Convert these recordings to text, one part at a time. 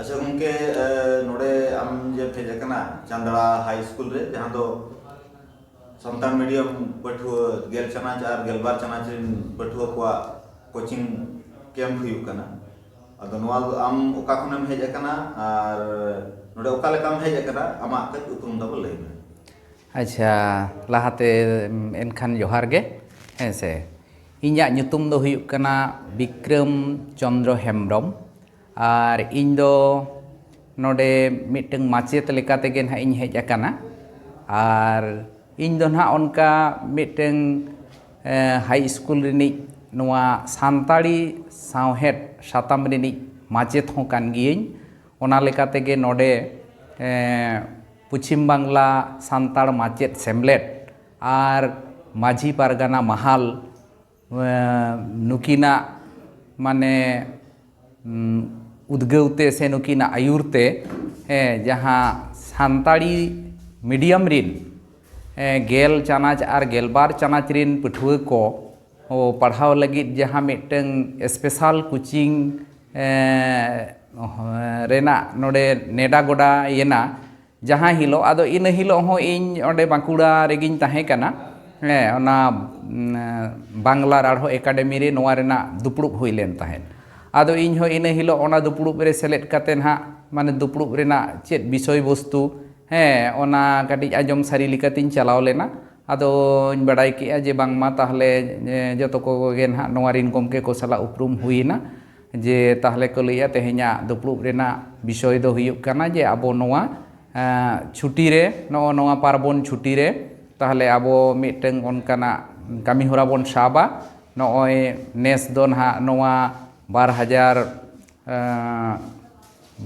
ᱟᱪᱪᱷᱟ ᱜᱚᱢᱠᱮ ᱱᱚᱰᱮ ᱟᱢ ᱡᱮ ᱯᱷᱮᱡ ᱟᱠᱟᱱᱟ ᱪᱟᱱᱫᱲᱟ ᱦᱟᱭ ᱥᱠᱩᱞ ᱨᱮ ᱡᱟᱦᱟᱸ ᱫᱚ ᱥᱟᱱᱛᱟᱲ ᱢᱤᱰᱤᱭᱟᱢ ᱯᱟᱹᱴᱷᱩᱣᱟᱹ ᱜᱮᱞ ᱪᱟᱱᱟᱪ ᱟᱨ ᱜᱮᱞᱵᱟᱨ ᱪᱟᱱᱟᱪ ᱨᱮᱱ ᱯᱟᱹᱴᱷᱩᱣᱟᱹ ᱠᱚᱣᱟᱜ ᱠᱳᱪᱤᱝ ᱠᱮᱢᱯ ᱦᱩᱭᱩᱜ ᱠᱟᱱᱟ ᱟᱫᱚ ᱱᱚᱣᱟ ᱫᱚ ᱟᱢ ᱚᱠᱟ ᱠᱷᱚᱱᱮᱢ ᱦᱮᱡ ᱟᱠᱟᱱᱟ ᱟᱨ ᱱᱚᱰᱮ ᱚᱠᱟ ᱞᱮᱠᱟᱢ ᱦᱮᱡ ᱟᱠᱟᱱᱟ ᱟᱢᱟᱜ ᱠᱟᱹᱡ ᱩᱯᱨᱩᱢ ᱛᱟᱵᱚ ᱞᱟᱹᱭ ᱢᱮ ᱟᱪᱪᱷᱟ ᱞᱟᱦᱟᱛᱮ ᱮᱱᱠᱷᱟᱱ ᱡᱚᱦᱟᱨ ᱜᱮ ᱦᱮᱸ ᱥᱮ ᱤᱧᱟᱹᱜ ᱧᱩᱛᱩᱢ ᱫᱚ ᱦᱩᱭᱩᱜ ᱠᱟᱱᱟ ᱵᱤᱠᱨᱚᱢ ᱪᱚᱱᱫᱨᱚ ᱦᱮᱢᱵᱨᱚᱢ ᱟᱨ ᱤᱧ ᱫᱚ ᱱᱚᱰᱮ ᱢᱤᱫᱴᱟᱹᱝ ᱢᱟᱪᱮᱫ ᱞᱮᱠᱟ ᱛᱮᱜᱮ ᱱᱟᱦᱟᱜ ᱤᱧ ᱦᱮᱡ ᱟᱠᱟᱱᱟ ᱟᱨ ᱤᱧ ᱫᱚ ᱱᱟᱦᱟᱜ ᱚᱱᱠᱟ ᱢᱤᱫᱴᱟᱹᱝ ᱦᱟᱭ ᱤᱥᱠᱩᱞ ᱨᱤᱱᱤᱡ ᱱᱚᱣᱟ ᱥᱟᱱᱛᱟᱲᱤ ᱥᱟᱶᱦᱮᱫ ᱥᱟᱛᱟᱢ ᱨᱤᱱᱤᱡ ᱢᱟᱪᱮᱫ ᱦᱚᱸ ᱠᱟᱱ ᱜᱤᱭᱟᱹᱧ ᱚᱱᱟ ᱞᱮᱠᱟᱛᱮ ᱜᱮ ᱱᱚᱰᱮ ᱯᱚᱪᱷᱤᱢ ᱵᱟᱝᱞᱟ ᱥᱟᱱᱛᱟᱲ ᱢᱟᱪᱮᱫ ᱥᱮᱢᱞᱮᱫ ᱟᱨ ᱢᱟᱹᱡᱷᱤ ᱯᱟᱨᱜᱟᱱᱟ ᱢᱟᱦᱟᱞ ᱱᱩᱠᱤᱱᱟᱜ ᱢᱟᱱᱮ ᱩᱫᱽᱜᱟᱹᱣ ᱛᱮ ᱥᱮ ᱱᱩᱠᱤᱱᱟᱜ ᱟᱹᱭᱩᱨ ᱛᱮ ᱡᱟᱦᱟᱸ ᱥᱟᱱᱛᱟᱲᱤ ᱢᱤᱰᱤᱭᱟᱢ ᱨᱤᱱ ᱜᱮᱞ ᱪᱟᱱᱟᱪ ᱟᱨ ᱜᱮᱞᱵᱟᱨ ᱪᱟᱱᱟᱪ ᱨᱤᱱ ᱯᱟᱹᱴᱷᱩᱣᱟᱹ ᱠᱚ ᱯᱟᱲᱦᱟᱣ ᱞᱟᱹᱜᱤᱫ ᱡᱟᱦᱟᱸ ᱢᱤᱫᱴᱟᱹᱝ ᱥᱯᱮᱥᱟᱞ ᱠᱳᱪᱤᱝ ᱨᱮᱱᱟᱜ ᱱᱚᱰᱮ ᱱᱮᱰᱟ ᱜᱚᱰᱟ ᱭᱮᱱᱟ ᱡᱟᱦᱟᱸ ᱦᱤᱞᱳᱜ ᱟᱫᱚ ᱤᱱᱟᱹ ᱦᱤᱞᱳᱜ ᱦᱚᱸ ᱤᱧ ᱚᱸᱰᱮ ᱵᱟᱸᱠᱩᱲᱟ ᱨᱮᱜᱮᱧ ᱛᱟᱦᱮᱸ ᱠᱟᱱᱟ ᱦᱮᱸ ᱚᱱᱟ ᱵᱟᱝᱞᱟ ᱨᱟᱲᱦᱚ ᱮᱠᱟᱰᱮᱢᱤ ᱨᱮ ᱱᱚᱣᱟ ᱨᱮᱱᱟᱜ ᱫᱩᱯᱲᱩᱵ ᱦᱩᱭ ᱞᱮᱱ ᱛᱟᱦᱮᱸᱫ ᱟᱫᱚ ᱤᱧ ᱦᱚᱸ ᱤᱱᱟᱹ ᱦᱤᱞᱳᱜ ᱚᱱᱟ ᱫᱩᱯᱲᱩᱵ ᱨᱮ ᱥᱮᱞᱮᱫ ᱠᱟᱛᱮᱫ ᱱᱟᱦᱟᱜ ᱢᱟᱱᱮ ᱫᱩᱯᱲᱩᱵ ᱨᱮᱱᱟᱜ ᱪᱮᱫ ᱵᱤᱥᱚᱭ ᱵᱚᱥᱛᱩ ᱦᱮᱸ ᱚᱱᱟ ᱠᱟᱹᱴᱤᱡ ᱟᱸᱡᱚᱢ ᱥᱟᱹᱨᱤ ᱞᱮᱠᱟᱛᱤᱧ ᱪᱟᱞᱟᱣ ᱞᱮᱱᱟ ᱟᱫᱚᱧ ᱵᱟᱰᱟᱭ ᱠᱮᱫᱼᱟ ᱡᱮ ᱵᱟᱝᱢᱟ ᱛᱟᱦᱚᱞᱮ ᱡᱚᱛᱚ ᱠᱚᱜᱮ ᱱᱟᱦᱟᱜ ᱱᱚᱣᱟ ᱨᱤᱱ ᱜᱚᱢᱠᱮ ᱠᱚ ᱥᱟᱞᱟᱜ ᱩᱯᱨᱩᱢ ᱦᱩᱭ ᱮᱱᱟ ᱡᱮ ᱛᱟᱦᱚᱞᱮ ᱠᱚ ᱞᱟᱹᱭᱮᱫᱼᱟ ᱛᱮᱦᱮᱧᱟᱜ ᱫᱩᱯᱲᱩᱵ ᱨᱮᱱᱟᱜ ᱵᱤᱥᱚᱭ ᱫᱚ ᱦᱩᱭᱩᱜ ᱠᱟᱱᱟ ᱡᱮ ᱟᱵᱚ ᱱᱚᱣᱟ ᱪᱷᱩᱴᱤ ᱨᱮ ᱱᱚᱜᱼᱚ ᱱᱚᱣᱟ ᱯᱟᱨᱵᱚᱱ ᱪᱷᱩᱴᱤ ᱨᱮ ᱛᱟᱦᱚᱞᱮ ᱟᱵᱚ ᱢᱤᱫᱴᱟᱹᱝ ᱚᱱᱠᱟᱱᱟᱜ ᱠᱟᱹᱢᱤᱦᱚᱨᱟ ᱵᱚᱱ ᱥᱟᱵᱟ ᱱᱚᱜᱼᱚᱭ ᱱᱮᱥ ᱫᱚ ᱱᱟᱦᱟᱜ ᱱᱚᱣᱟ ᱵᱟᱨ ᱦᱟᱡᱟᱨ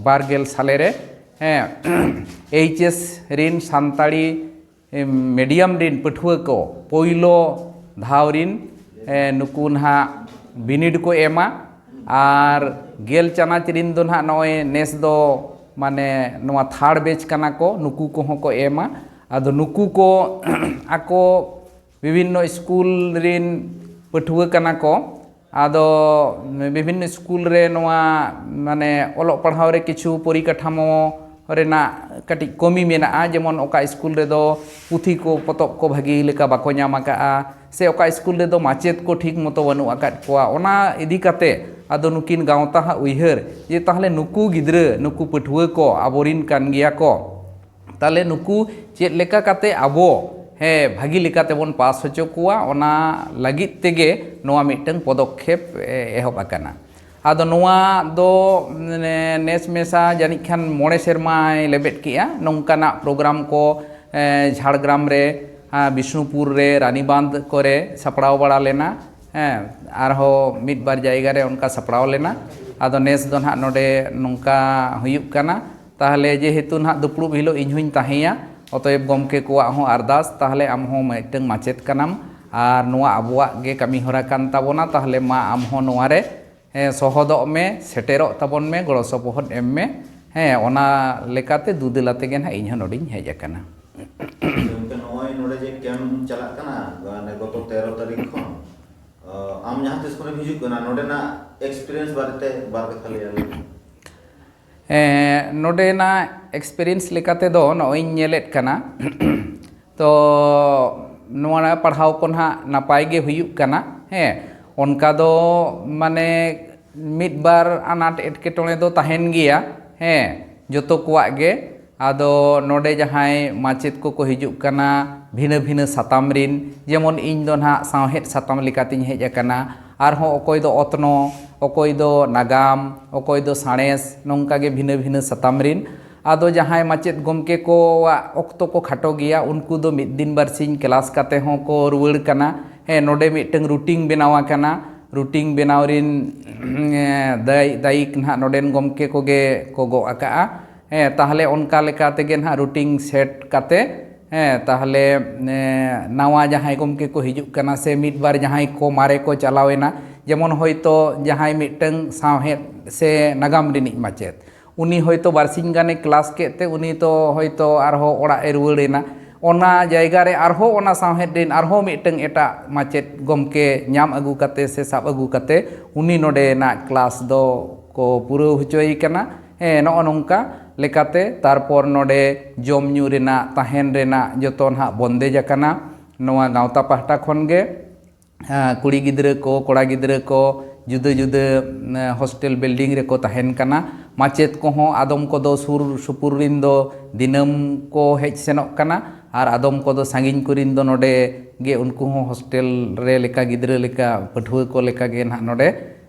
ᱵᱟᱨ ᱜᱮᱞ ᱥᱟᱞᱮ ᱨᱮ ᱮᱭᱤᱪ ᱮᱥ ᱨᱤᱱ ᱥᱟᱱᱛᱟᱲᱤ ᱢᱤᱰᱤᱭᱟᱢ ᱨᱤᱱ ᱯᱟᱹᱴᱷᱩᱣᱟᱹ ᱠᱚ ᱯᱳᱭᱞᱳ ᱫᱷᱟᱣ ᱨᱤᱱ ᱱᱩᱠᱩ ᱱᱟᱦᱟᱜ ᱵᱤᱱᱤᱰ ᱠᱚ ᱮᱢᱟ ᱟᱨ ᱜᱮᱞ ᱪᱟᱱᱟᱪ ᱨᱤᱱ ᱫᱚ ᱱᱟᱦᱟᱜ ᱱᱚᱜᱼᱚᱸᱭ ᱱᱮᱥ ᱫᱚ ᱢᱟᱱᱮ ᱱᱚᱣᱟ ᱛᱷᱟᱲ ᱵᱮᱪ ᱠᱟᱱᱟ ᱠᱚ ᱱᱩᱠᱩ ᱠᱚᱦᱚᱸ ᱠᱚ ᱮᱢᱟ ᱟᱫᱚ ᱱᱩᱠᱩ ᱠᱚ ᱟᱠᱚ ᱵᱤᱵᱷᱤᱱᱱᱚ ᱥᱠᱩᱞ ᱨᱮᱱ ᱯᱟᱹᱴᱷᱩᱣᱟᱹ ᱠᱟᱱᱟ ᱠᱚ ᱟᱫᱚ ᱵᱤᱵᱷᱤᱱᱱᱚ ᱥᱠᱩᱞ ᱨᱮ ᱱᱚᱣᱟ ᱢᱟᱱᱮ ᱚᱞᱚᱜ ᱯᱟᱲᱦᱟᱣ ᱨᱮ ᱠᱤᱪᱷᱩ ᱯᱚᱨᱤᱠᱟᱴᱷᱟᱢᱳ ᱨᱮᱱᱟᱜ ᱠᱟᱹᱴᱤᱡ ᱠᱚᱢᱤ ᱢᱮᱱᱟᱜᱼᱟ ᱡᱮᱢᱚᱱ ᱚᱠᱟ ᱥᱠᱩᱞ ᱨᱮᱫᱚ ᱯᱩᱛᱷᱤ ᱠᱚ ᱯᱚᱛᱚᱵ ᱠᱚ ᱵᱷᱟᱹᱜᱤ ᱞᱮᱠᱟ ᱵᱟᱠᱚ ᱧᱟᱢ ᱠᱟᱜᱼᱟ ᱥᱮ ᱚᱠᱟ ᱥᱠᱩᱞ ᱨᱮᱫᱚ ᱢᱟᱪᱮᱫ ᱠᱚ ᱴᱷᱤᱠ ᱢᱚᱛᱳ ᱵᱟᱹᱱᱩᱜ ᱟᱠᱟᱫ ᱠᱚᱣᱟ ᱚᱱᱟ ᱤᱫᱤ ᱠᱟᱛᱮᱫ ᱟᱫᱚ ᱱᱩᱠᱤᱱ ᱜᱟᱶᱛᱟ ᱦᱟᱸᱜ ᱩᱭᱦᱟᱹᱨ ᱡᱮ ᱛᱟᱦᱚᱞᱮ ᱱᱩᱠᱩ ᱜᱤᱫᱽᱨᱟᱹ ᱱᱩᱠᱩ ᱯᱟᱹᱴᱷᱩᱣᱟᱹ ᱠᱚ ᱟᱵᱚ ᱨᱮᱱ ᱠᱟᱱ ᱜᱮᱭᱟ ᱠᱚ ᱛᱟᱦᱚᱞᱮ ᱱᱩᱠᱩ ᱪᱮᱫ ᱞᱮᱠᱟ ᱠᱟᱛᱮ ᱟᱵᱚ ᱦᱮᱸ ᱵᱷᱟᱹᱜᱤ ᱞᱮᱠᱟ ᱛᱮᱵᱚᱱ ᱯᱟᱥ ᱦᱚᱪᱚ ᱠᱚᱣᱟ ᱚᱱᱟ ᱞᱟᱹᱜᱤᱫ ᱛᱮᱜᱮ ᱱᱚᱣᱟ ᱢᱤᱫᱴᱟᱹᱝ ᱯᱚᱫᱚᱠᱷᱮᱯ ᱮᱦᱚᱵ ᱟᱠᱟᱱᱟ ᱟᱫᱚ ᱱᱚᱣᱟ ᱫᱚ ᱱᱮᱥ ᱢᱮᱥᱟ ᱡᱟᱹᱱᱤᱡ ᱠᱷᱟᱱ ᱢᱚᱬᱮ ᱥᱮᱨᱢᱟᱭ ᱞᱮᱵᱮᱫ ᱠᱮᱜᱼᱟ ᱱᱚᱝᱠᱟᱱᱟᱜ ᱯᱨᱳᱜᱨᱟᱢ ᱠᱚ ᱡᱷᱟᱲᱜᱨᱟᱢ ᱨᱮ ᱵᱤᱥᱱᱩᱯᱩᱨ ᱨᱮ ᱨᱟᱱᱤᱵᱟᱸᱫᱽ ᱠᱚᱨᱮ ᱥᱟᱯᱲᱟᱣ ᱵᱟᱲᱟ ᱞᱮᱱᱟ ᱦᱮᱸ ᱟᱨᱦᱚᱸ ᱢᱤᱫ ᱵᱟᱨ ᱡᱟᱭᱜᱟ ᱨᱮ ᱚᱱᱠᱟ ᱥᱟᱯᱲᱟᱣ ᱞᱮᱱᱟ ᱟᱫᱚ ᱱᱮᱥ ᱫᱚ ᱦᱟᱸᱜ ᱱᱚᱰᱮ ᱱᱚᱝᱠᱟ ᱦᱩᱭᱩᱜ ᱠᱟᱱᱟ ᱛᱟᱦᱞᱮ ᱡᱮᱦᱮᱛᱩ ᱱᱟᱦᱟᱜ ᱫᱩᱯᱲᱩᱵ ᱦᱤᱞᱚᱜ ᱤᱧ ᱦᱚᱸᱧ ᱛᱟᱦᱮᱸᱭᱟ ᱚᱛᱚᱭᱮᱵ ᱜᱚᱢᱠᱮ ᱠᱚᱣᱟᱜ ᱦᱚᱸ ᱟᱨᱫᱟᱥ ᱛᱟᱦᱞᱮ ᱟᱢ ᱦᱚᱸ ᱢᱤᱫᱴᱟᱹᱝ ᱢᱟᱪᱮᱛ ᱠᱟᱱᱟᱢ ᱟᱨ ᱱᱚᱣᱟ ᱟᱵᱚᱣᱟᱜ ᱜᱮ ᱠᱟᱹᱢᱤ ᱦᱚᱨᱟ ᱠᱟᱱ ᱛᱟᱵᱚᱱᱟ ᱛᱟᱦᱞᱮ ᱢᱟ ᱟᱢ ᱦᱚᱸ ᱱᱚᱣᱟ ᱨᱮ ᱥᱚᱦᱚᱫᱚᱜ ᱢᱮ ᱥᱮᱴᱮᱨᱚᱜ ᱛᱟᱵᱚᱱ ᱢᱮ ᱜᱚᱲᱚ ᱥᱚᱯᱚᱦᱚᱫ ᱮᱢ ᱢᱮ ᱦᱮᱸ ᱚᱱᱟ ᱞᱮᱠᱟᱛᱮ ᱫᱩᱫᱮᱞ ᱟᱛᱮ ᱜᱮ ᱱᱟᱦᱟᱜ ᱤᱧ ᱦᱚᱸ ᱱᱚᱰᱮᱧ ᱦᱮᱡ ᱟᱠᱟᱱᱟ᱾ ᱜᱚᱢᱠᱮ ᱱᱚᱜᱼᱚᱭ ᱱᱚᱰᱮ ᱡᱮ ᱠᱮᱢᱯ ᱪᱟᱞᱟᱜ ᱠᱟᱱᱟ ᱢᱟᱱᱮ ᱜᱚᱛᱚ ᱛᱮᱨᱚ ᱛᱟᱹᱨᱤᱠᱷ ᱠᱷᱚᱱ ᱟᱢ ᱡᱟᱦᱟᱸ ᱛᱤᱥ ᱠᱷᱚᱱᱮᱢ ᱦᱤᱡᱩᱜ ᱠᱟᱱᱟ ᱱᱚᱰᱮᱱᱟᱜ ᱮᱠᱥᱯᱮᱨᱤᱭᱮᱱᱥ ᱵᱟᱨᱮᱛᱮ ᱵᱟᱨ ᱠᱟᱛᱷᱟ ᱞᱟᱹᱭ ᱟᱞᱮ ᱢᱮ᱾ ᱱᱚᱰᱮᱱᱟᱜ ᱮᱠᱥᱯᱮᱨᱤᱭᱮᱱᱥ ᱞᱮᱠᱟ ᱛᱮᱫᱚ ᱱᱚᱜᱼᱚᱭ ᱤᱧ ᱧᱮᱞᱮᱫ ᱠᱟᱱᱟ ᱛᱚ ᱱᱚᱣᱟ ᱯᱟᱲᱦᱟᱣ ᱠᱚ ᱱᱟᱦᱟᱜ ᱱᱟᱯᱟᱭ ᱜᱮ ᱦᱩᱭᱩᱜ ᱠᱟᱱᱟ ᱦᱮᱸ ᱚᱱᱠᱟ ᱫᱚ ᱢᱟᱱᱮ ᱢᱤᱫ ᱵᱟᱨ ᱟᱱᱟᱴ ᱮᱴᱠᱮᱴᱚᱬᱮ ᱫᱚ ᱛᱟᱦᱮᱱ ᱜᱮᱭᱟ ᱦᱮᱸ ᱡᱚᱛᱚ ᱠᱚᱣᱟᱜ ᱜᱮ ᱟᱫᱚ ᱱᱚᱰᱮ ᱡᱟᱦᱟᱸᱭ ᱢᱟᱪᱮᱫ ᱠᱚᱠᱚ ᱦᱤᱡᱩᱜ ᱠᱟᱱᱟ ᱵᱷᱤᱱᱟᱹ ᱵᱷᱤᱱᱟᱹ ᱥᱟᱛᱟᱢ ᱨᱤᱱ ᱡᱮᱢᱚᱱ ᱤᱧ ᱫᱚ ᱱᱟᱦᱟᱜ ᱥᱟᱶᱦᱮᱫ ᱥᱟᱛᱟᱢ ᱞᱮᱠᱟᱛᱤᱧ ᱦᱮᱡ ᱟᱠᱟᱱᱟ ᱟᱨᱦᱚᱸ ᱚᱠᱚᱭ ᱫᱚ ᱚᱛᱱᱚᱜ ᱚᱠᱚᱭ ᱫᱚ ᱱᱟᱜᱟᱢ ᱚᱠᱚᱭ ᱫᱚ ᱥᱟᱬᱮᱥ ᱱᱚᱝᱠᱟ ᱜᱮ ᱵᱷᱤᱱᱟᱹ ᱵᱷᱤᱱᱟᱹ ᱥᱟᱛᱟᱢ ᱨᱤᱱ ᱟᱫᱚ ᱡᱟᱦᱟᱸᱭ ᱢᱟᱪᱮᱫ ᱜᱚᱢᱠᱮ ᱠᱚᱣᱟᱜ ᱚᱠᱛᱚ ᱠᱚ ᱠᱷᱟᱴᱚ ᱜᱮᱭᱟ ᱩᱱᱠᱩ ᱫᱚ ᱢᱤᱫ ᱫᱤᱱ ᱵᱟᱨ ᱥᱤᱧ ᱠᱞᱟᱥ ᱠᱟᱛᱮ ᱦᱚᱸ ᱠᱚ ᱨᱩᱣᱟᱹᱲ ᱠᱟᱱᱟ ᱦᱮᱸ ᱱᱚᱰᱮ ᱢᱤᱫᱴᱟᱹᱝ ᱨᱩᱴᱤᱝ ᱵᱮᱱᱟᱣ ᱟᱠᱟᱱᱟ ᱨᱩᱴᱤᱝ ᱵᱮᱱᱟᱣ ᱨᱤᱱ ᱫᱟᱭ ᱫᱟᱭᱤᱠ ᱱᱟᱦᱟᱜ ᱱᱚᱰᱮᱱ ᱜᱚᱢᱠᱮ ᱠᱚᱜᱮ ᱠᱚ ᱜᱚᱜ ᱟᱠᱟᱜᱼᱟ ᱦᱮᱸ ᱛᱟᱦᱚᱞᱮ ᱚᱱᱠᱟ ᱞᱮᱠᱟ ᱛᱮᱜᱮ ᱱᱟᱦᱟᱜ ᱨᱩᱴᱤᱝ ᱥᱮᱴ ᱠᱟᱛᱮ ᱦᱮᱸ ᱛᱟᱦᱚᱞᱮ ᱱᱟᱣᱟ ᱡᱟᱦᱟᱸᱭ ᱜᱚᱢᱠᱮ ᱠᱚ ᱦᱤᱡᱩᱜ ᱠᱟᱱᱟ ᱥᱮ ᱢᱤᱫ ᱵᱟᱨ ᱡᱟᱦᱟᱸᱭ ᱠᱚ ᱢᱟᱨᱮ ᱠᱚ ᱪᱟᱞᱟᱣ ᱮᱱᱟ ᱡᱮᱢᱚᱱ ᱦᱚᱭᱛᱳ ᱡᱟᱦᱟᱸᱭ ᱢᱤᱫᱴᱟᱹᱝ ᱥᱟᱶᱦᱮᱫ ᱥᱮ ᱱᱟᱜᱟᱢ ᱨᱤᱱᱤᱡ ᱢᱟᱪᱮᱫ ᱩᱱᱤ ᱦᱚᱭᱛᱳ ᱵᱟᱨ ᱥᱤᱧ ᱜᱟᱱᱮ ᱠᱞᱟᱥ ᱠᱮᱫ ᱛᱮ ᱩᱱᱤ ᱫᱚ ᱦᱚᱭᱛᱳ ᱟᱨᱦᱚᱸ ᱚᱲᱟᱜ ᱮ ᱨᱩᱣᱟᱹᱲ ᱮᱱᱟ ᱚᱱᱟ ᱡᱟᱭᱜᱟ ᱨᱮ ᱟᱨᱦᱚᱸ ᱚᱱᱟ ᱥᱟᱶᱦᱮᱫ ᱨᱤᱱ ᱟᱨᱦᱚᱸ ᱢᱤᱫᱴᱟᱹᱝ ᱮᱴᱟᱜ ᱢᱟᱪᱮᱫ ᱜᱚᱢᱠᱮ ᱧᱟᱢ ᱟᱹᱜᱩ ᱠᱟᱛᱮ ᱥᱮ ᱥᱟᱵ ᱟᱹᱜᱩ ᱠᱟᱛᱮ ᱩᱱᱤ ᱱᱚᱰᱮᱱᱟᱜ ᱠᱞᱟᱥ ᱫᱚ ᱠᱚ ᱯᱩᱨᱟᱹᱣ ᱦᱚᱪᱚᱭᱮ ᱠᱟᱱᱟ ᱦᱮᱸ ᱱᱚᱜᱼᱚ ᱱᱚᱝᱠᱟ ᱞᱮᱠᱟᱛᱮ ᱛᱟᱨᱯᱚᱨ ᱱᱚᱰᱮ ᱡᱚᱢ ᱧᱩ ᱨᱮᱱᱟᱜ ᱛᱟᱦᱮᱱ ᱨᱮᱱᱟᱜ ᱡᱚᱛᱚ ᱱᱟᱦᱟᱜ ᱵᱚᱱᱫᱮᱡᱽ ᱟᱠᱟᱱᱟ ᱱᱚᱣᱟ ᱜᱟᱶᱛᱟ ᱯᱟᱦᱴᱟ ᱠᱷᱚᱱ ᱜᱮ ᱠᱩᱲᱤ ᱜᱤᱫᱽᱨᱟᱹ ᱠᱚ ᱠᱚᱲᱟ ᱜᱤᱫᱽᱨᱟᱹ ᱠᱚ ᱡᱩᱫᱟᱹ ᱡᱩᱫᱟᱹ ᱦᱳᱥᱴᱮᱞ ᱵᱤᱞᱰᱤᱝ ᱨᱮᱠᱚ ᱛᱟᱦᱮᱱ ᱠᱟᱱᱟ ᱢᱟᱪᱮᱫ ᱠᱚᱦᱚᱸ ᱟᱫᱚᱢ ᱠᱚᱫᱚ ᱥᱩᱨ ᱥᱩᱯᱩᱨ ᱨᱮᱱ ᱫᱚ ᱫᱤᱱᱟᱹᱢ ᱠᱚ ᱦᱮᱡ ᱥᱮᱱᱚᱜ ᱠᱟᱱᱟ ᱟᱨ ᱟᱫᱚᱢ ᱠᱚᱫᱚ ᱥᱟᱺᱜᱤᱧ ᱠᱚᱨᱮᱱ ᱫᱚ ᱱᱚᱰᱮ ᱜᱮ ᱩᱱᱠᱩ ᱦᱚᱸ ᱦᱳᱥᱴᱮᱞ ᱨᱮ ᱞᱮᱠᱟ ᱜᱤᱫᱽᱨᱟᱹ ᱞᱮᱠᱟ ᱯᱟᱹᱴᱷᱩᱣᱟᱹ ᱠᱚ ᱞᱮᱠᱟ ᱜᱮ ᱱᱟᱦᱟᱜ ᱱᱚᱰᱮ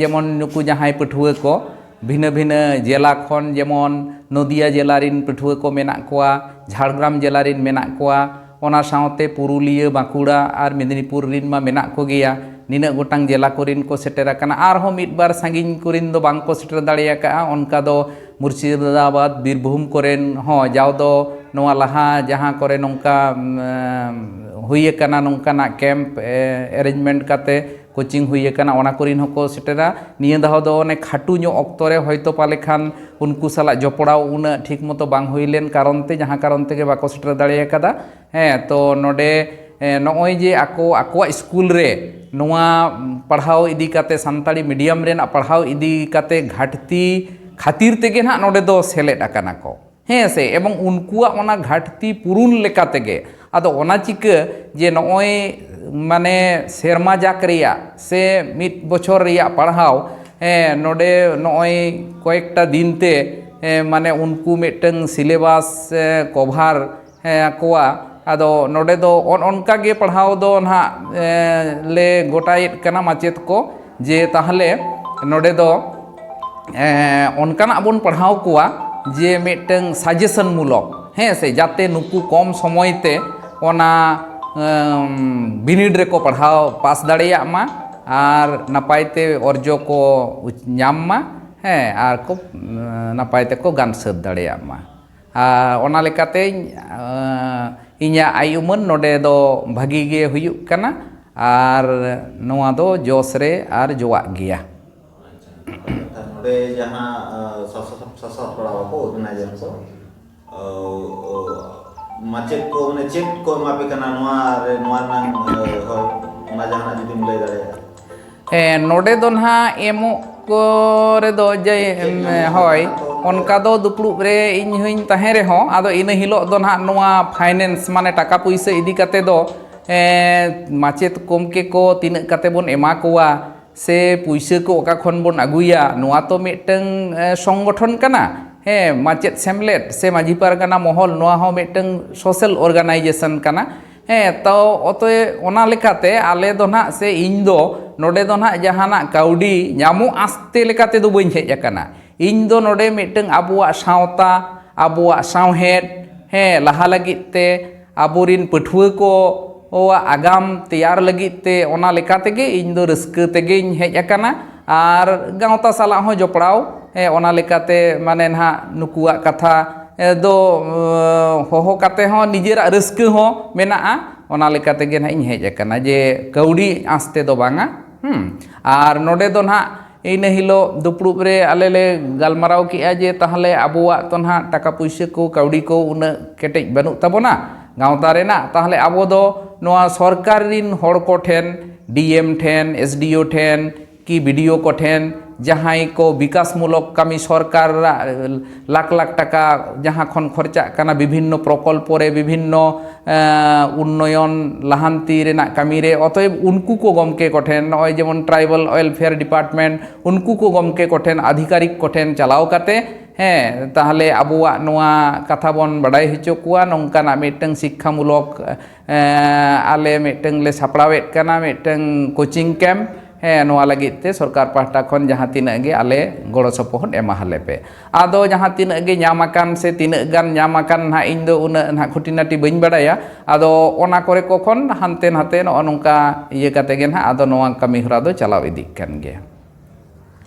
ᱡᱮᱢᱚᱱ ᱱᱩᱠᱩ ᱡᱟᱦᱟᱸᱭ ᱯᱟᱹᱴᱷᱩᱣᱟᱹ ᱠᱚ ᱵᱷᱤᱱᱟᱹ ᱵᱷᱤᱱᱟᱹ ᱡᱮᱞᱟ ᱠᱷᱚᱱ ᱡᱮᱢᱚᱱ ᱱᱚᱫᱤᱭᱟ ᱡᱮᱞᱟ ᱨᱮᱱ ᱯᱟᱹᱴᱷᱩᱣᱟᱹ ᱠᱚ ᱢᱮᱱᱟᱜ ᱠᱚᱣᱟ ᱡᱷᱟᱲᱜᱨᱟᱢ ᱡᱮᱞᱟ ᱨᱮᱱ ᱢᱮᱱᱟᱜ ᱠᱚᱣᱟ ᱚᱱᱟ ᱥᱟᱶᱛᱮ ᱯᱩᱨᱩᱞᱤᱭᱟᱹ ᱵᱟᱸᱠᱩᱲᱟ ᱟᱨ ᱢᱮᱫᱽᱱᱤᱯᱩᱨ ᱨᱮᱱ ᱢᱟ ᱢᱮᱱᱟᱜ ᱠᱚᱜᱮᱭᱟ ᱱᱤᱱᱟᱹᱜ ᱜᱚᱴᱟᱝ ᱡᱮᱞᱟ ᱠᱚᱨᱮᱱ ᱠᱚ ᱥᱮᱴᱮᱨ ᱟᱠᱟᱱᱟ ᱟᱨᱦᱚᱸ ᱢᱤᱫ ᱵᱟᱨ ᱥᱟᱺᱜᱤᱧ ᱠᱚᱨᱮᱱ ᱫᱚ ᱵᱟᱝ ᱠᱚ ᱥᱮᱴᱮᱨ ᱫᱟᱲᱮ ᱟᱠᱟᱫᱼᱟ ᱚᱱᱠᱟ ᱫᱚ ᱢᱩᱨᱥᱤᱫᱟᱵᱟᱫᱽ ᱵᱤᱨᱵᱷᱩᱢ ᱠᱚᱨᱮᱱ ᱦᱚᱸ ᱡᱟᱣ ᱫᱚ ᱱᱚᱣᱟ ᱞᱟᱦᱟ ᱡᱟᱦᱟᱸ ᱠᱚᱨᱮ ᱱᱚᱝᱠᱟ ᱦᱩᱭ ᱟᱠᱟᱱᱟ ᱱᱚᱝᱠᱟᱱᱟᱜ ᱠᱮᱢᱯ ᱮᱨᱮᱧᱡᱽᱢᱮᱱᱴ ᱠᱟᱛᱮᱫ ᱠᱳᱪᱤᱝ ᱦᱩᱭ ᱟᱠᱟᱱᱟ ᱚᱱᱟ ᱠᱚᱨᱮᱱ ᱦᱚᱸᱠᱚ ᱥᱮᱴᱮᱨᱟ ᱱᱤᱭᱟᱹ ᱫᱷᱟᱣ ᱫᱚ ᱚᱱᱮ ᱠᱷᱟᱹᱴᱩ ᱧᱚᱜ ᱚᱠᱛᱚ ᱨᱮ ᱦᱚᱭᱛᱳ ᱯᱟᱞᱮ ᱠᱷᱟᱱ ᱩᱱᱠᱩ ᱥᱟᱞᱟᱜ ᱡᱚᱯᱲᱟᱣ ᱩᱱᱟᱹᱜ ᱴᱷᱤᱠ ᱢᱚᱛᱚ ᱵᱟᱝ ᱦᱩᱭ ᱞᱮᱱ ᱠᱟᱨᱚᱱ ᱛᱮ ᱡᱟᱦᱟᱸ ᱠᱟᱨᱚᱱ ᱛᱮᱜᱮ ᱵᱟᱠᱚ ᱥᱮᱴᱮᱨ ᱫᱟᱲᱮ ᱟᱠᱟᱫᱟ ᱦᱮᱸ ᱛᱚ ᱱᱚᱰᱮ ᱱᱚᱜᱼᱚᱭ ᱡᱮ ᱟᱠᱚ ᱟᱠᱚᱣᱟᱜ ᱤᱥᱠᱩᱞ ᱨᱮ ᱱᱚᱣᱟ ᱯᱟᱲᱦᱟᱣ ᱤᱫᱤ ᱠᱟᱛᱮ ᱥᱟᱱᱛᱟᱲᱤ ᱢᱤᱰᱤᱭᱟᱢ ᱨᱮᱱᱟᱜ ᱯᱟᱲᱦᱟᱣ ᱤᱫᱤ ᱠᱟᱛᱮ ᱜᱷᱟᱹᱴᱛᱤ ᱠᱷᱟᱹᱛᱤᱨ ᱛᱮᱜᱮ ᱦᱟᱸᱜ ᱱᱚᱰᱮ ᱫᱚ ᱥᱮᱞᱮᱫ ᱟᱠᱟᱱᱟ ᱠᱚ ᱦᱮᱸ ᱥᱮ ᱮᱵᱚᱝ ᱩᱱᱠᱩᱣᱟᱜ ᱚᱱᱟ ᱜᱷᱟᱴᱛᱤ ᱯᱩᱨᱩᱱ ᱞᱮᱠᱟ ᱛᱮᱜᱮ ᱟᱫᱚ ᱚᱱᱟ ᱪᱤᱠᱟᱹ ᱡᱮ ᱱᱚᱜᱼᱚᱭ ᱢᱟᱱᱮ ᱥᱮᱨᱢᱟ ᱡᱟᱠ ᱨᱮᱭᱟᱜ ᱥᱮ ᱢᱤᱫ ᱵᱚᱪᱷᱚᱨ ᱨᱮᱭᱟᱜ ᱯᱟᱲᱦᱟᱣ ᱱᱚᱰᱮ ᱱᱚᱜᱼᱚᱭ ᱠᱚᱭᱮᱠᱴᱟ ᱫᱤᱱ ᱛᱮ ᱢᱟᱱᱮ ᱩᱱᱠᱩ ᱢᱤᱫᱴᱟᱹᱝ ᱥᱤᱞᱮᱵᱟᱥ ᱠᱚᱵᱷᱟᱨ ᱠᱚᱣᱟ ᱟᱫᱚ ᱱᱚᱰᱮ ᱫᱚ ᱚᱱ ᱚᱱᱠᱟ ᱜᱮ ᱯᱟᱲᱦᱟᱣ ᱫᱚ ᱱᱟᱦᱟᱜ ᱞᱮ ᱜᱚᱴᱟᱭᱮᱫ ᱠᱟᱱᱟ ᱢᱟᱪᱮᱫ ᱠᱚ ᱡᱮ ᱛᱟᱦᱚᱞᱮ ᱱᱚᱰᱮ ᱫᱚ ᱚᱱᱠᱟᱱᱟᱜ ᱵᱚᱱ ᱯᱟᱲᱦᱟᱣ ᱠᱚᱣᱟ ᱡᱮ ᱢᱤᱫᱴᱟᱹᱝ ᱥᱟᱡᱮᱥᱚᱱ ᱢᱩᱞᱚᱠ ᱦᱮᱸ ᱥᱮ ᱡᱟᱛᱮ ᱱᱩᱠᱩ ᱠᱚᱢ ᱥᱚᱢᱚᱭ ᱛᱮ ᱚᱱᱟ ᱵᱤᱱᱤᱰ ᱨᱮᱠᱚ ᱯᱟᱲᱦᱟᱣ ᱯᱟᱥ ᱫᱟᱲᱮᱭᱟᱜ ᱢᱟ ᱟᱨ ᱱᱟᱯᱟᱭ ᱛᱮ ᱚᱨᱡᱚ ᱠᱚ ᱧᱟᱢ ᱢᱟ ᱦᱮᱸ ᱟᱨ ᱠᱚ ᱱᱟᱯᱟᱭ ᱛᱮᱠᱚ ᱜᱟᱱ ᱥᱟᱹᱛ ᱫᱟᱲᱮᱭᱟᱜ ᱢᱟ ᱟᱨ ᱚᱱᱟ ᱞᱮᱠᱟᱛᱮᱧ ᱤᱧᱟᱹᱜ ᱟᱭ ᱩᱢᱟᱹᱱ ᱱᱚᱰᱮ ᱫᱚ ᱵᱷᱟᱹᱜᱤ ᱜᱮ ᱦᱩᱭᱩᱜ ᱠᱟᱱᱟ ᱟᱨ ᱱᱚᱣᱟ ᱫᱚ ᱡᱚᱥ ᱨᱮ ᱟᱨ ᱡᱚᱣᱟᱜ ᱜᱮᱭᱟ ᱱᱚᱰᱮ ᱫᱚ ᱱᱟᱦᱟᱜ ᱮᱢᱚᱜ ᱠᱚ ᱨᱮᱫᱚ ᱡᱮ ᱦᱳᱭ ᱚᱱᱠᱟ ᱫᱚ ᱫᱩᱯᱲᱩᱵ ᱨᱮ ᱤᱧ ᱦᱚᱧ ᱛᱟᱦᱮᱸ ᱨᱮᱦᱚᱸ ᱟᱫᱚ ᱤᱱᱟᱹ ᱦᱤᱞᱳᱜ ᱫᱚ ᱱᱟᱦᱟᱜ ᱱᱚᱣᱟ ᱯᱷᱟᱭᱱᱮᱱᱥ ᱢᱟᱱᱮ ᱴᱟᱠᱟ ᱯᱩᱭᱥᱟᱹ ᱤᱫᱤ ᱠᱟᱛᱮᱫ ᱫᱚ ᱢᱟᱪᱮᱫ ᱜᱚᱢᱠᱮ ᱠᱚ ᱛᱤᱱᱟᱹᱜ ᱠᱟᱛᱮᱫ ᱵᱚᱱ ᱮᱢᱟ ᱠᱚᱣᱟ ᱥᱮ ᱯᱩᱭᱥᱟᱹ ᱠᱚ ᱚᱠᱟ ᱠᱷᱚᱱ ᱵᱚᱱ ᱟᱹᱜᱩᱭᱟ ᱱᱚᱣᱟ ᱛᱚ ᱢᱤᱫᱴᱟᱹᱝ ᱥᱚᱝᱜᱚᱴᱷᱚᱱ ᱠᱟᱱᱟ ᱦᱮᱸ ᱢᱟᱪᱮᱫ ᱥᱮᱢᱞᱮᱫ ᱥᱮ ᱢᱟᱹᱡᱷᱤ ᱯᱟᱨᱜᱟᱱᱟ ᱢᱚᱦᱚᱞ ᱱᱚᱣᱟ ᱦᱚᱸ ᱢᱤᱫᱴᱟᱹᱝ ᱥᱳᱥᱟᱞ ᱚᱨᱜᱟᱱᱟᱭᱡᱮᱥᱮᱱ ᱠᱟᱱᱟ ᱦᱮᱸ ᱛᱚ ᱚᱛᱚᱭᱮᱵ ᱚᱱᱟ ᱞᱮᱠᱟᱛᱮ ᱟᱞᱮ ᱫᱚ ᱱᱟᱦᱟᱜ ᱥᱮ ᱤᱧ ᱫᱚ ᱱᱚᱰᱮ ᱫᱚ ᱱᱟᱦᱟᱜ ᱡᱟᱦᱟᱱᱟᱜ ᱠᱟᱹᱣᱰᱤ ᱧᱟᱢᱚᱜ ᱟᱥᱛᱮ ᱞᱮᱠᱟ ᱛᱮᱫᱚ ᱵᱟᱹᱧ ᱦᱮᱡ ᱟᱠᱟᱱᱟ ᱤᱧ ᱫᱚ ᱱᱚᱰᱮ ᱢᱤᱫᱴᱟᱹᱝ ᱟᱵᱚᱣᱟᱜ ᱥᱟᱶᱛᱟ ᱟᱵᱚᱣᱟᱜ ᱥᱟᱶᱦᱮᱫ ᱦᱮᱸ ᱞᱟᱦᱟ ᱞᱟᱹᱜᱤᱫ ᱛᱮ ᱟᱵᱚ ᱨᱤᱱ ᱯᱟᱹᱴᱷᱩᱣᱟᱹ ᱠᱚ ᱠᱚᱣᱟᱜ ᱟᱜᱟᱢ ᱛᱮᱭᱟᱨ ᱞᱟᱹᱜᱤᱫ ᱛᱮ ᱚᱱᱟ ᱞᱮᱠᱟ ᱛᱮᱜᱮ ᱤᱧ ᱫᱚ ᱨᱟᱹᱥᱠᱟᱹ ᱛᱮᱜᱮᱧ ᱦᱮᱡ ᱟᱠᱟᱱᱟ ᱟᱨ ᱜᱟᱶᱛᱟ ᱥᱟᱞᱟᱜ ᱦᱚᱸ ᱡᱚᱯᱲᱟᱣ ᱚᱱᱟ ᱞᱮᱠᱟᱛᱮ ᱢᱟᱱᱮ ᱱᱟᱦᱟᱜ ᱱᱩᱠᱩᱣᱟᱜ ᱠᱟᱛᱷᱟ ᱫᱚ ᱦᱚᱦᱚ ᱠᱟᱛᱮ ᱦᱚᱸ ᱱᱤᱡᱮᱨᱟᱜ ᱨᱟᱹᱥᱠᱟᱹ ᱦᱚᱸ ᱢᱮᱱᱟᱜᱼᱟ ᱚᱱᱟ ᱞᱮᱠᱟ ᱛᱮᱜᱮ ᱱᱟᱦᱟᱜ ᱤᱧ ᱦᱮᱡ ᱠᱟᱱᱟ ᱡᱮ ᱠᱟᱹᱣᱰᱤ ᱟᱸᱥ ᱛᱮᱫᱚ ᱵᱟᱝᱟ ᱟᱨ ᱱᱚᱰᱮ ᱫᱚ ᱱᱟᱦᱟᱜ ᱤᱱᱟᱹ ᱦᱤᱞᱳᱜ ᱫᱩᱯᱲᱩᱵ ᱨᱮ ᱟᱞᱮ ᱞᱮ ᱜᱟᱞᱢᱟᱨᱟᱣ ᱠᱮᱜᱼᱟ ᱡᱮ ᱛᱟᱦᱚᱞᱮ ᱟᱵᱚᱣᱟᱜ ᱛᱚ ᱱᱟᱦᱟᱜ ᱴᱟᱠᱟ ᱯᱩᱭᱥᱟᱹ ᱠᱚ ᱠᱟᱹᱣᱰᱤ ᱠᱚ ᱩᱱᱟᱹᱜ ᱠᱮᱴᱮᱡ ᱵᱟᱹᱱᱩᱜ ᱛᱟᱵᱚᱱᱟ ᱜᱟᱶᱛᱟ ᱨᱮᱱᱟᱜ ᱛᱟᱦᱚᱞᱮ ᱟᱵᱚ ᱫᱚ ᱱᱚᱣᱟ ᱥᱚᱨᱠᱟᱨ ᱨᱤᱱ ᱦᱚᱲ ᱠᱚ ᱴᱷᱮᱱ ᱰᱤ ᱮᱢ ᱴᱷᱮᱱ ᱮᱥ ᱰᱤ ᱳ ᱴᱷᱮᱱ ᱠᱤ ᱵᱤ ᱰᱤ ᱳ ᱠᱚ ᱴᱷᱮᱱ ᱡᱟᱦᱟᱸᱭ ᱠᱚ ᱵᱤᱠᱟᱥ ᱢᱩᱞᱚᱠ ᱠᱟᱹᱢᱤ ᱥᱚᱨᱠᱟᱨᱟᱜ ᱞᱟᱠᱷ ᱞᱟᱠᱷ ᱴᱟᱠᱟ ᱡᱟᱦᱟᱸ ᱠᱷᱚᱱ ᱠᱷᱚᱨᱪᱟᱜ ᱠᱟᱱᱟ ᱵᱤᱵᱷᱤᱱᱱᱚ ᱯᱨᱚᱠᱚᱞᱯᱚ ᱨᱮ ᱵᱤᱵᱷᱤᱱᱱᱚ ᱩᱱᱱᱚᱭᱚᱱ ᱞᱟᱦᱟᱱᱛᱤ ᱨᱮᱱᱟᱜ ᱠᱟᱹᱢᱤ ᱨᱮ ᱚᱛᱚᱭᱮᱵᱽ ᱩᱱᱠᱩ ᱠᱚ ᱜᱚᱢᱠᱮ ᱠᱚ ᱴᱷᱮᱱ ᱱᱚᱜᱼᱚᱭ ᱡᱮᱢᱚᱱ ᱴᱨᱟᱭᱵᱮᱞ ᱳᱭᱮᱞᱯᱷᱮᱭᱟᱨ ᱰᱤᱯᱟᱨᱴᱢᱮᱱᱴ ᱩᱱᱠᱩ ᱠᱚ ᱜᱚᱢᱠᱮ ᱠᱚ ᱴᱷᱮᱱ ᱟᱫᱷᱤᱠᱟᱨᱤᱠ ᱠᱚ ᱴᱷᱮᱱ ᱪᱟᱞᱟᱣ ᱠᱟᱛᱮᱫ ᱦᱮᱸ ᱛᱟᱦᱚᱞᱮ ᱟᱵᱚᱣᱟᱜ ᱱᱚᱣᱟ ᱠᱟᱛᱷᱟ ᱵᱚᱱ ᱵᱟᱰᱟᱭ ᱦᱚᱪᱚ ᱠᱚᱣᱟ ᱱᱚᱝᱠᱟᱱᱟᱜ ᱢᱤᱫᱴᱟᱝ ᱥᱤᱠᱠᱷᱟ ᱢᱩᱞᱚᱠ ᱟᱞᱮ ᱢᱤᱫᱴᱟᱝ ᱞᱮ ᱥᱟᱯᱲᱟᱣᱮᱫ ᱠᱟᱱᱟ ᱢᱤᱫᱴᱟᱝ ᱠᱳᱪᱤᱝ ᱠᱮᱢᱯ ᱦᱮᱸ ᱱᱚᱣᱟ ᱞᱟᱹᱜᱤᱫ ᱛᱮ ᱥᱚᱨᱠᱟᱨ ᱯᱟᱦᱴᱟ ᱠᱷᱚᱱ ᱡᱟᱦᱟᱸ ᱛᱤᱱᱟᱹᱜ ᱜᱮ ᱟᱞᱮ ᱜᱚᱲᱚ ᱥᱚᱯᱚᱦᱚᱫ ᱮᱢᱟ ᱟᱞᱮ ᱯᱮ ᱟᱫᱚ ᱡᱟᱦᱟᱸ ᱛᱤᱱᱟᱹᱜ ᱜᱮ ᱧᱟᱢ ᱟᱠᱟᱱ ᱥᱮ ᱛᱤᱱᱟᱹᱜ ᱜᱟᱱ ᱧᱟᱢ ᱟᱠᱟᱱ ᱦᱟᱸᱜ ᱤᱧ ᱫᱚ ᱩᱱᱟᱹᱜ ᱦᱟᱸᱜ ᱠᱷᱩᱴᱤᱱᱟᱴᱤ ᱵᱟᱹᱧ ᱵᱟᱲᱟᱭᱟ ᱟᱫᱚ ᱚᱱᱟ ᱠᱚᱨᱮ ᱠᱚ ᱠᱷᱚᱱ ᱦᱟᱱᱛᱮ ᱱᱟᱛᱮ ᱱᱚᱜᱼᱚ ᱱᱚᱝᱠᱟ ᱤᱭᱟᱹ ᱠᱟᱛᱮᱫ ᱜᱮ ᱦᱟᱸᱜ ᱟᱫᱚ ᱱᱚᱣᱟ ᱠᱟᱹᱢᱤᱦᱚᱨᱟ ᱫᱚ ᱪᱟᱞᱟᱣ ᱤᱫᱤᱜ ᱠᱟᱱ ᱜᱮᱭᱟ